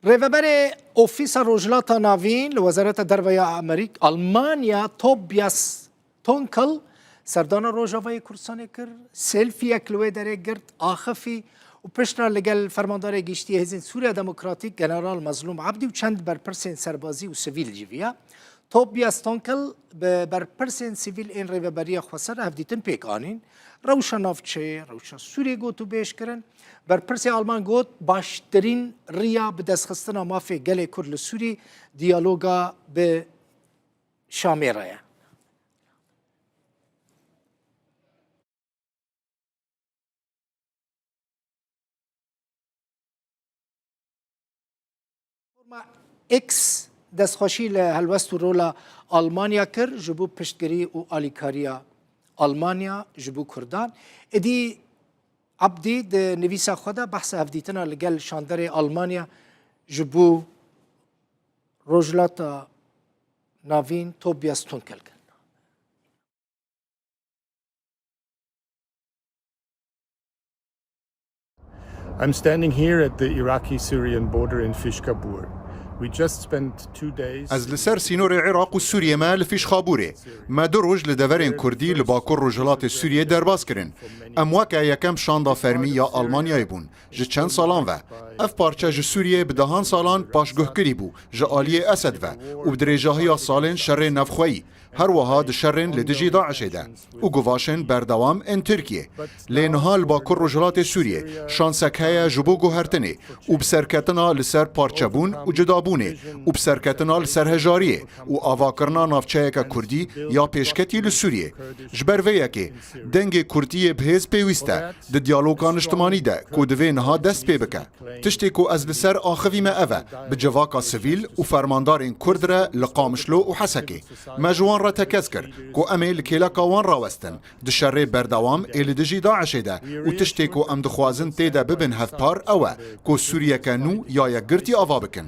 Rêveberê Ofîsa Rojhilata Navîn li Wezareta Derve ya Amerîk Almanya Tobias Tonkel serdana Rojavayê Kurdistanê kir, selfiyek li wê derê girt, axifî û piştra li gel Fermandarê Giştiyê Hêzên Sûriya Demokratîk General Mezlûm Ebdî û çend berpirsên serbazî û sivîl jî viya. Tobias Tonkel bi berpirsên sivîl ên rêveberiya xweser hevdîtin pêk anîn. Rewşa navçeyê, rewşa Sûriyê gotûbêj kirin. Berpirsê Alman got, baştirîn riya bi destxistina mafê gelê Kurd li Sûrî diyaloga bi Şamê re ye. Platforma X destxweşî li helwest û rola Almanya kir ji bo piştgirî û alîkariya Almanya ji bo Kurdan. Êdî Abdî di nivîsa xwe de behsa hevdîtina li gel şanderê Almanya ji bo Rojhilata Navîn Tobias Tunkel kir. I'm standing here at the Iraqi Syrian border in Fishkabur. We just spent two days. Ez li ser sînorê Iraq û Sûriyê me li Fîşxabûrê. Me du roj li deverên Kurdî li bakur rojhilatê Sûriyê derbas kirin. Em weke yekem şanda fermî ya Almanyayê bûn ji çend salan ve. Ev parçe ji Sûriyê bi dehan salan paşguhkirî bû ji aliyê Esed ve û bi dirêjahiya salên şerê navxweyî, Her wiha di şerên li dijî DAIŞ'ê de û guvaşên berdewam ên Tirkiyê. Lê niha li Bakur Rojhilatê Sûriyê şansek heye ji bo guhertinê û bi serketina li ser parçebûn û cudabûnê û bi serketina li ser hejariyê û avakirina navçeyeke Kurdî ya pêşketî li Sûriyê. Ji ber vê yekê dengê Kurdiyê bi hêz pêwîst e di diyaloga niştimanî de ku divê niha dest pê bike. Tiştê ku ez li ser axivîme ev e, bi civaka sivîl û fermandarên Kurd re li Qamişlo û Hesekê, me ji wan re tekez kir ku em ê li kêleka wan rawestin, di şerê berdewam ê li dijî DAIŞ'ê de û tiştê ku em dixwazin tê de bibin hevpar ew e ku Sûriyeke nû ya yekgirtî ava bikin.